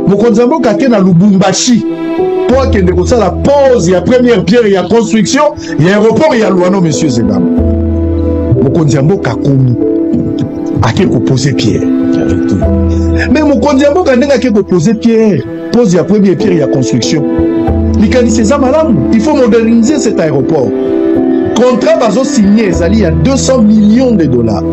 mokonzi ya mboka ake na lubumbashi mpo akende kosala pose ya première pierre ya construction ya aéroport ya luano monsieur zegama mokonzi ya mboka akomi ake kopose pierre me mokonzi ya mboka ndenge ake kopose pierre pose ya première pierre ya construction likanisi eza malamu il faut moderniser cet aéroport contrat bazosigne ezali ya 200 millions de dollars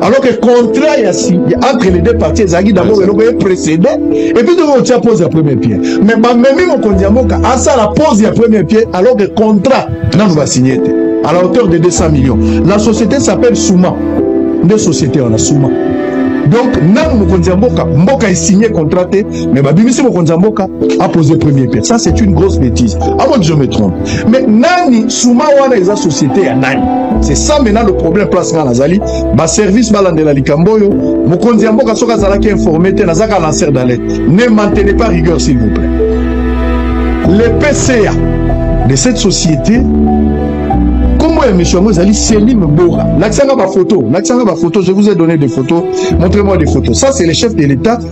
alors que contrat ya entre les deux parties ezalaki d'abord eloko ye précédé epuis tokoki kotya pose ya premier pied mais bamemi mokonzi ya mboka asala pose ya premier pied alors que contrat nanu basigne te à la hauteur de 200 millions la société s'appelle souma nde société wana souma donc nanu mokonzi ya mboka mboka esigne contrat te mais babimisi mokonzi ya mboka apose premier pied ça c'est une grosse bêtise avant que je me trompe mais nani suma wana eza société ya nani c'est ça maintenant le problème place nga nazali baservice balandela likambo oyo mokonzi ya mboka soki azalaki informe te nazaka lancer d'alerte ne maintenez pas rigueur s'il vous plaît le pca de cette société nkombo ya misio yango ezali selime bora lakisanga bafoto lakisanga bafoto je vous ai donné des photos montrez moi des photos ça c'est le chef de l'état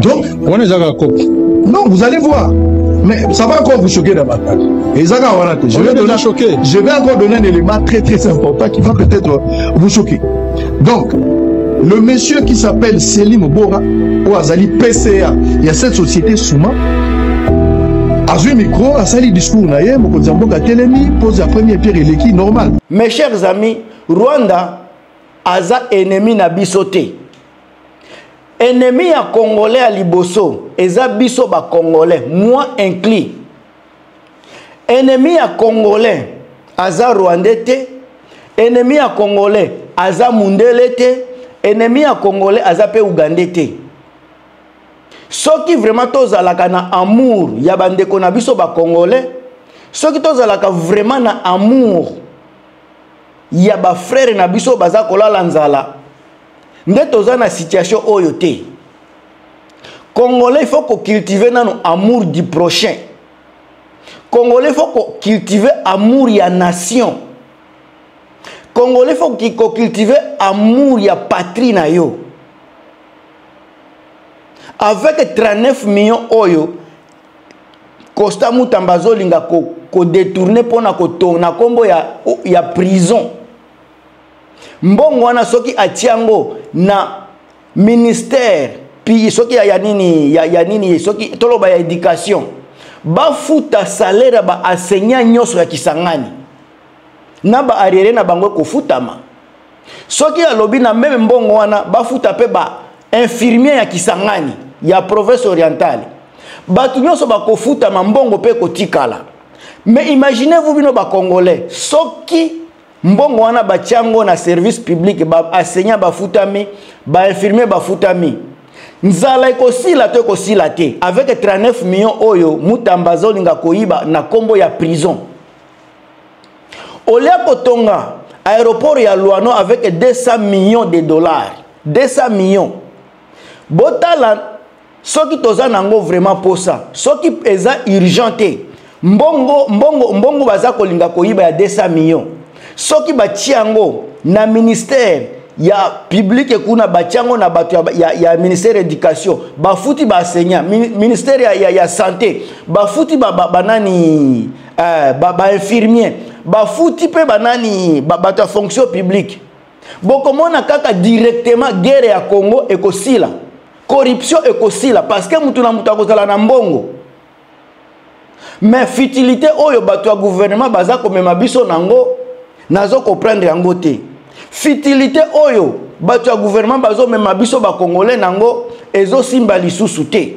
donc wana eza kaka cope non vous allez voir mais ça va encore vous choquer davantage eza kaka wana te je vais donner choquer je vais encore donner un élément très très important qui va peut-être vous choquer donc le monsieur qui s'appelle Selim Bora ou azali PCA il y a cette société Souma azwi micro asali discours na ye mokonzi ya mboka atelemi pose ya premier pierre eleki normal mes chers amis rwanda aza ennemi na biso te ennemi ya congolais ya liboso eza biso ba congolais moi inclus ennemi ya congolais aza rwandais te ennemi ya congolais aza mundele te ennemi ya congolais aza mpe ugandais te soki vraiment tozalaka na amour ya bandeko na biso ba congolais soki tozalaka vraiment na amour ya bafrere na biso baza kolala nzala nde toza na situation oyo te congolais faut ko cultiver nanu amour du prochain congolais faut ko cultiver amour ya nation congolais faut ko cultiver amour ya patrie na yo avec 39 millions oyo costa mutamba azolinga ko, ko détourner mpona kotona nkombo ya, ya prison mbongo wana soki atia yango na ministère puis soki ya, ya nini ya, ya nini soki toloba ya éducation bafuta salaire ya baenseignant nyonso ya kisangani na baarriere na bango ekofutama soki alobi na meme mbongo wana bafuta mpe bainfirmier ya kisangani ya province orientale bato nyonso bakofutama mbongo mpe ekotikala mais imaginez vous bino bacongolais soki mbongo wana batya yango na service public baenseignant bafutami bainfirmier bafutami nzala ekosila to ekosila te avec 39 million oyo mutamba azolinga koyiba na nkombo ya prison olia kotonga aéroport ya luano avec 200 millions de dollars 200 millions botala soki toza nango vraiment posa soki eza urgent te mbongo mbongo mbongo baza kolinga koyiba ya 200 millions soki batie yango na ministère ya publike kuna batie yango na bato ya, ya, ya ministère ya éducation bafuti baenseignant ministère ya, ya, ya santé bafuti banani ba, ba, ba, eh, bainfirmier ba bafuti mpe banani bato ba ya fonction publique bokomona kaka directement guerre ya congo ekosila corruption ekosila parce que mutu na mutu akozala na mbongo mais futilité oyo bato ya gouvernement baza komema biso nango nazo comprendre yango te futilité oyo bato ya gouvernement bazomema biso bacongolais nango ezosimba lisusu te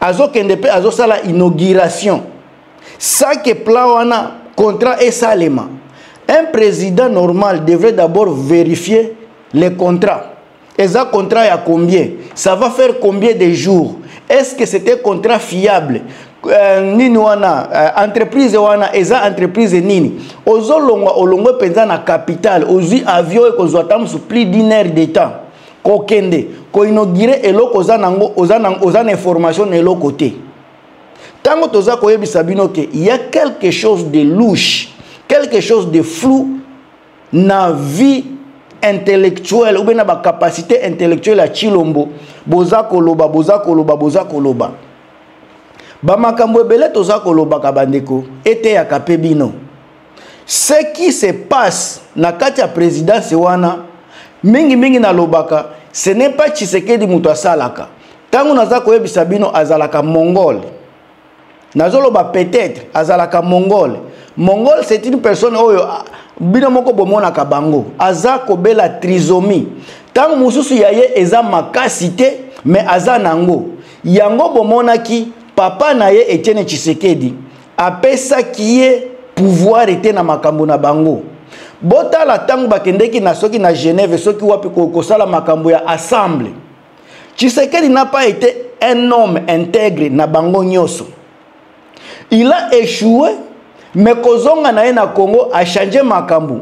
azokende mpe azosala inauguration sans que plan wana contrat esalema un président normal devrait d'abord vérifier le contrat eza contrat ya combien ça va faire combien de jours est-ce que c'était contrat fiable Euh, nini wana euh, entreprise wana eza entreprise nini ozolongwa olongwe mpenza na capital ozwi avion ekozwa ata mosu plus d'une heure de temps kokende koinogire eloko oza nango oza na oza na information na eloko te ntango toza koyebisa bino ke ya quelque chose de louche quelque chose de flou na vie intellectuelle oubien na bacapacité intellectuelle ya chilombo boza koloba boza koloba boza koloba bamakambo ebele toza kolobaka bandeko eteyaka mpe bino ce qui se passe na kati ya présidence wana mingimingi nalobaka ce n'est pas tshisekedi moto asalaka ntango naza koyebisa bino azalaka mongole nazoloba peut-être azalaka mongole mongole c'est une personne oyo ah, bino moko bomonaka bango aza kobela trisomie ntango mosusu ya ye eza makasi te mais aza na yango yango bomonaki papa na ye etienne tshisekedi apesaki ye pouvoir ete na makambo na bango botala ntango bakendeki na soki na genève soki wapi kosala makambo ya assemble tshisekedi na pas ete un homme integre na bango nyonso il a échoué me kozonga na ye na congo achange makambo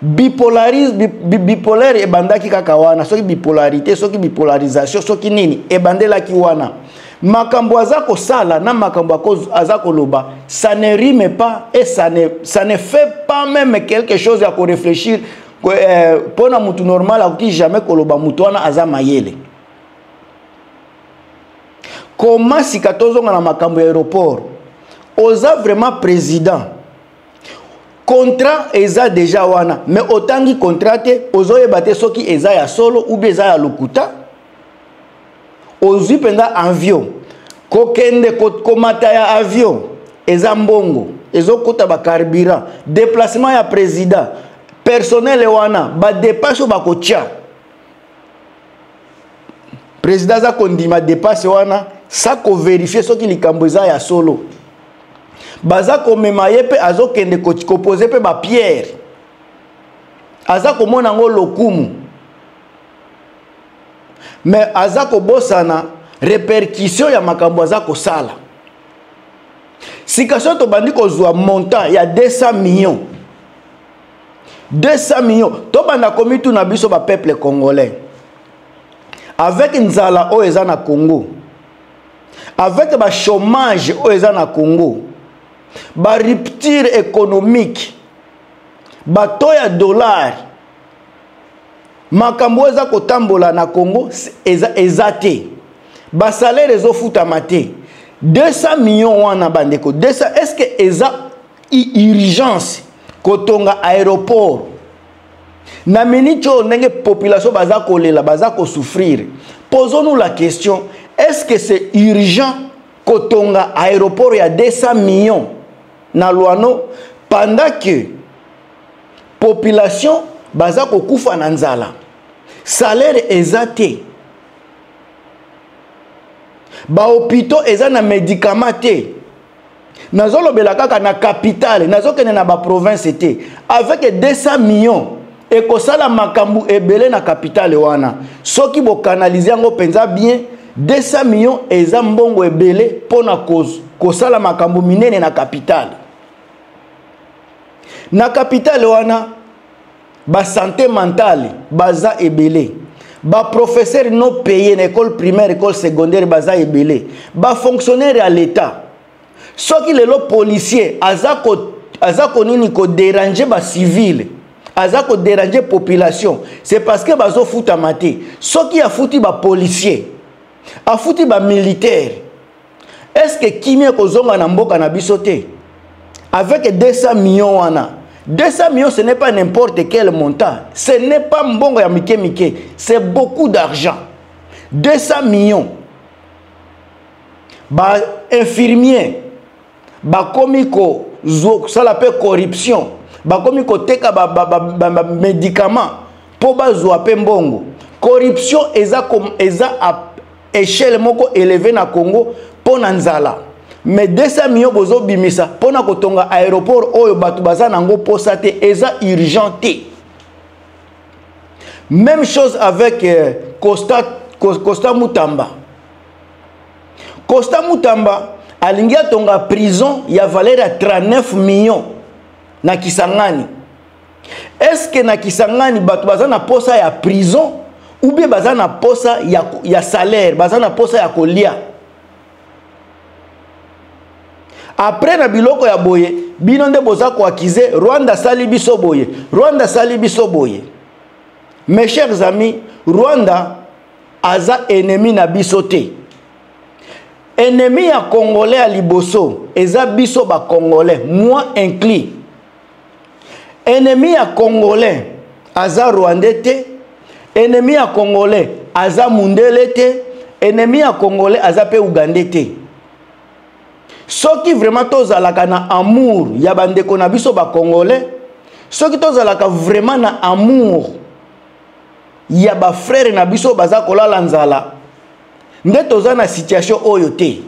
bipolaris bipolaire ebandaki kaka wana soki bipolarité soki bipolarisation soki nini ebandelaki wana makambo aza kosala na makambo aza koloba ça ne rime pas et ça ne, ça ne fait pas même quelque chose ya korefléchir mpo euh, eh, na motu normal akoki jamais koloba motu wana aza mayele koma sika tozonga na makambo ya aéroport oza vraiment président contrat eza deja wana mais otangi contrat te ozoyeba te soki eza ya solo ou bien eza ya lokuta ozwi mpenza avion kokende komata ya avion eza mbongo ezokota bacarburant déplacement ya président personnel wana badepense oyo bakotya président aza kondima dépasse wana sa koverifie soki likambo eza ya solo baza komema ye mpe azokende kopose mpe bapierre aza komona yango lokumu me aza kobosana repercussion ya makambo aza kosala sika soki tobandi kozwa montant ya 200 millions 200 millions tobanda komituna biso bapeuple congolais avec nzala oyo eza na congo avec bachômage oyo eza na congo barupture économique bato ya dollar makambo oyo eza kotambola na congo eza, eza te basalaire ezofutama te 200 millions wana bandeko 200 est ce que eza urgence kotonga aéroport na miniti oyo ndenge population baza kolela baza kosouffrire posons-nous la question est ce que c'est urgent kotonga aéroport ya 200 millions na lwano pendant que population baza kokufa na nzala salaire eza te bahopitaux eza na médicament te nazolobela kaka na capitale nazokende na baprovince te avec 200 millions ekosala makambo ebele na capitale wana soki bokanalize yango mpenza bien 200 millions eza mbongo ebele mpo na kosala makambo minene na capitale na capitale wana ba santé mentale baza ebele ba professeur no paye na école primaire école secondaire baza ebele ba fonctionnaire ya l'état soki lelo policier aza ko aza konini koderange bacivile aza koderange population c'est parce que bazofutama te soki afuti bapolicier afuti bamilitaire est ce que kimia ekozonga na mboka na biso te avec 200 millions wana 200 millions ce n'est pas n'importe quel montant ce n'est pas mbongo ya mike mike c'est beaucoup d'argent 200 millions ba infirmier bakomi kosala mpe corruption bakomi koteka bamédicament mpo bazwa mpe mbongo corruption eza, eza echelle moko eleve na congo mpo na nzala mais 200 millions bozobimisa mpo na kotonga aéroport oyo bato baza na yango mposa te eza urgent te même chose avec euh, costa, costa mutamba costa mutamba alingi atonga prison ya valeur ya 39 millions na kisangani est ce que na kisangani bato baza na posa ya prison ou bien baza na posa ya, ya salaire baza na posa ya kolia après na biloko ya boye bino nde boza koakize rwanda asali biso boye rwanda asali biso boye mes chers amis rwanda aza ennemi na biso te ennemi ya congolais ya liboso eza biso bacongolais moi inclus ennemi ya congolais aza rwandais te ennemi ya congolais aza mundele te ennemi ya congolais aza mpe ugandais te soki vraiment tozalaka na amour ya bandeko na biso bacongolais soki tozalaka vraiment na amour ya bafrere na biso baza kolala nzala nde toza na situation oyo te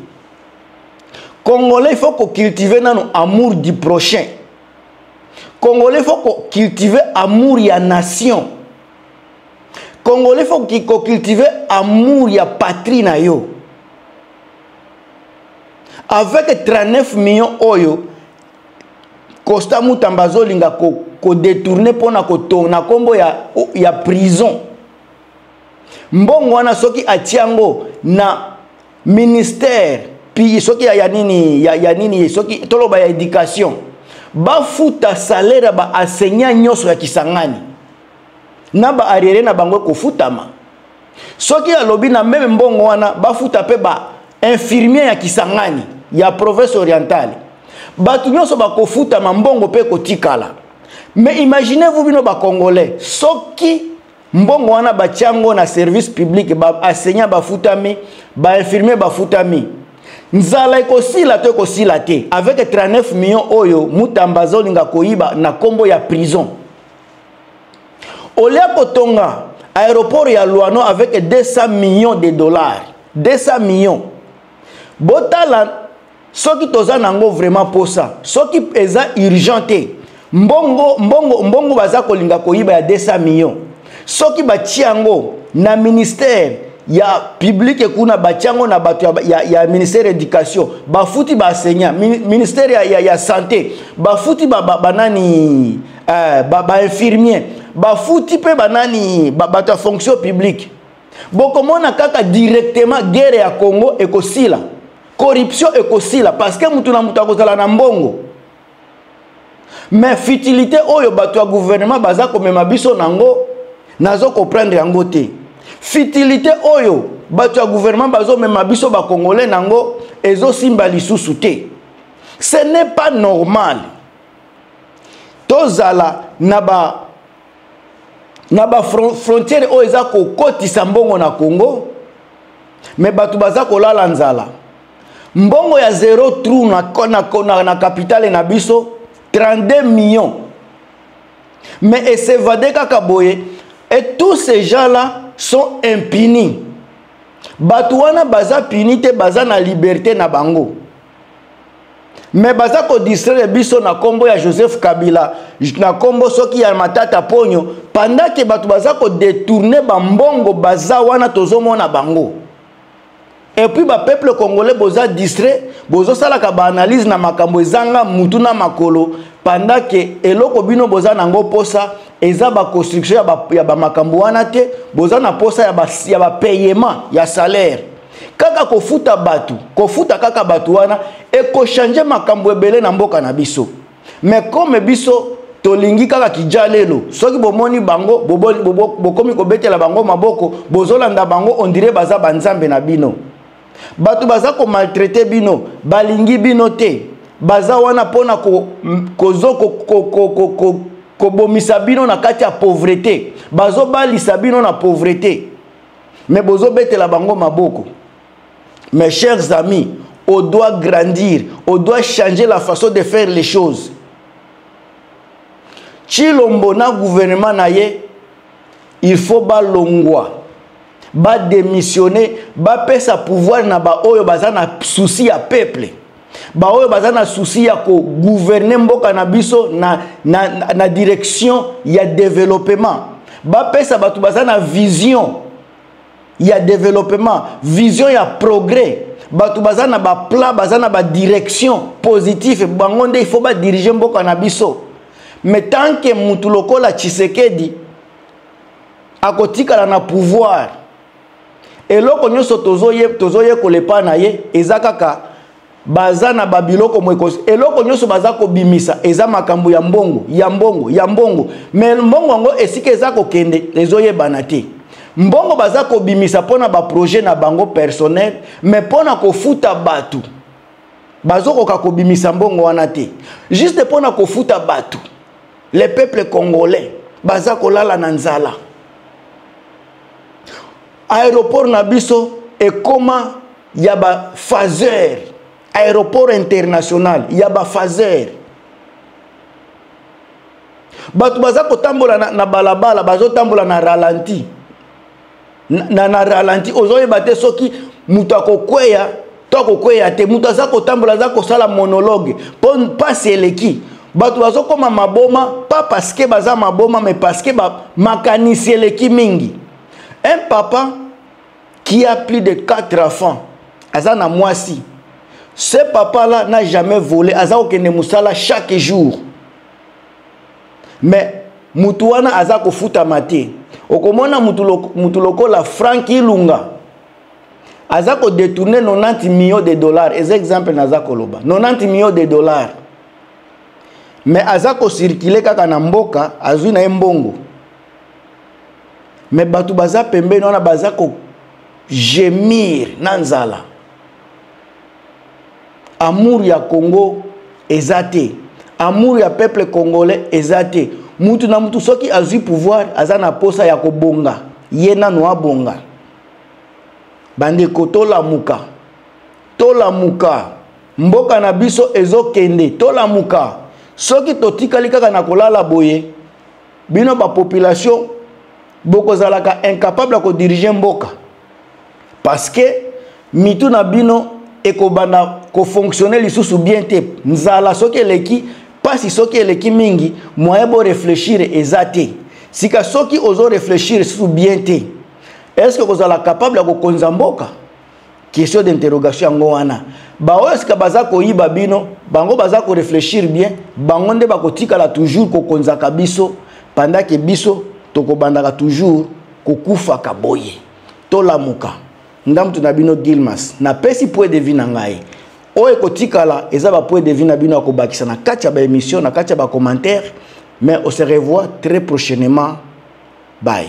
congolais il faut ko cultiver nanu amour du prochain congolais il faut ko cultiver amour ya nation congolais il faut ko cultiver amour ya patrie na yo avec 39 millions oyo costa mutamba azolinga kodetourne ko mpona kotona nkombo ya, ya prison mbongo wana soki atia yango na ministère puis soki ya, ya nini ya, ya nini soki toloba ya éducation bafuta salaire ya baenseignant nyonso ya kisangani na baarriere na bango ekofutama soki alobi na meme mbongo wana bafuta mpe bainfirmier ya kisangani ya province orientale bato nyonso bakofutama mbongo mpe ekotikala mais imaginez vous bino bacongolais soki mbongo wana batya yango na service public baenseignant bafutami bainfirmier bafutami nzala ekosila to ekosila te avec 39 million oyo mutamba azolinga koyiba na nkombo ya prison olia kotonga aéroport ya luano avec 200 millions de dollars 200 millions botala soki toza na yango vraiment mposa soki eza urgent te mbongo mbongo mbongo baza kolinga koyiba ya 200 millions soki batia yango na ministère ya publike kuna batia yango na bato ya, ya, ya ministère ya éducation bafuti baenseignant ministère ya, ya, ya santé bafuti banani ba, ba eh, ba, ba infirmier bafuti mpe banani bato ba, ya fonction publique bokomona kaka directement guerre ya congo ekosila corruption ekosila parce que mutu na mutu akozala na mbongo mais futilité oyo bato ya gouvernement baza komema biso nango nazo comprendre yango te futilité oyo bato ya gouvernement bazomema biso bakongole nango ezosimba lisusu te ce n'est pas normal tozala na ba na ba frontière oyo eza kokotisa mbongo na congo me bato baza kolala nzala mbongo ya zero trou na, na, na, na kapitale na biso 32 millions me esevade kaka boye et tous ces gens là sont impunis bato wana baza puni te baza na liberté na bango me baza kodistraire biso na nkombo ya joseph kabila na nkombo soki ya matata ponyo pendant ke bato baza kodetourne bambongo baza wana tozomona bango epuis bapeuple congolais boza distrait bozosalaka baanalyse na makambo ezanga mutu na makolo pendant ke eloko bino boza na yango mposa eza baconstruction ya bamakambo wana te boza na mposa ya bapayement ya salaire kaka kofuta bato kofuta kaka bato wana ekochange makambo ebele na mboka na biso me kome biso tolingi kaka kijalelo soki bomoni bango bokomi kobetela bango maboko bozolanda bango ondire baza banzambe na bino bato baza komaltraite bino balingi bino te baza wana mpona kobomisa bino na kati ya pauvrete bazobalisa bino na pauvrete mais bozo betela bango maboko mes chers amis on doit grandir on doit changer la façon de faire les choses chilombo na gouvernement na ye il faut balongwa badémissionne bapesa pouvoir na baoyo baza na souci ya peuple baoyo baza na souci ya kogouverne mboka na biso na, na, na, na direction ya developement bapesa bato baza na vision ya developement vision ya progrès bato baza na baplan baza na badirection positif bango nde ifo badirige mboka na biso me tanke motu lokola tshisekedi akotikala na pouvoir eloko nyonso tozoyekola epai na ye eza kaka baza na babiloko moekosi eloko nyonso baza kobimisa eza makambo ya mbongo ya mbongo ya mbongo me mbongo yango esika eza kokende ezoyebana te mbongo baza kobimisa mpo na baprojet na bango personnel me mpo na kofuta bato bazokoka kobimisa mbongo wana te juste mpo na kofuta bato le peuple congolais baza kolala na nzala aéroport na biso ekoma ya ba phaser aéroport international ya ba phaser bato baza kotambola na, na balabala bazotambola na ralenti na, na, na ralenti ozoyeba te soki moto akokweya to akokweya te moto aza kotambola aza kosala monologue mpo mpasi eleki bato bazokoma maboma pas parce que baza maboma mais parce que makanisi eleki mingi un papa qui a plus de 4 enfants aza na mwasi ce papa là n'a jamais volé aza kokende mosala chaque jour mais motu wana aza kofutama te okomona motu lokola frank ilunga aza ko détourner 90 millions de dollars eza exemple naza koloba 90 millions de dollars mais aza ko circuler kaka na mboka azui na ye mbongo mais bato baza pembeni wana baza ko gemir na nzala amour ya congo eza te amour ya peuple congolais eza te mutu na mutu soki azui pouvoir aza na posa ya kobonga ye nano abonga bandeko tolamuka tolamuka mboka na biso ezokende tolamuka soki totikali kaka na kolala boye bino bapopulation bokozalaka incapable ya kodirige mboka parce que mitu na bino ekobanda kofonctionne lisusu bien te nzala soki eleki mpasi soki eleki mingi moyen boreflechire eza te sika soki ozo reflechire lisusu bien te est ce que kozala capable ya kokonza mboka question d'interrogation yango wana baoyo sika baza koyiba bino bango baza koreflechir bien bango nde bakotikala toujours kokonzaka biso pandake biso tokobandaka toujours kokufaka boye tolamuka nga moto na bino gilmas napesi point de vie na ngai oyo ekotikala eza bapoint de vie na bino ya kobakisa na kati ya baémission na kati ya bacommentaire mais ose revoir très prochainement bye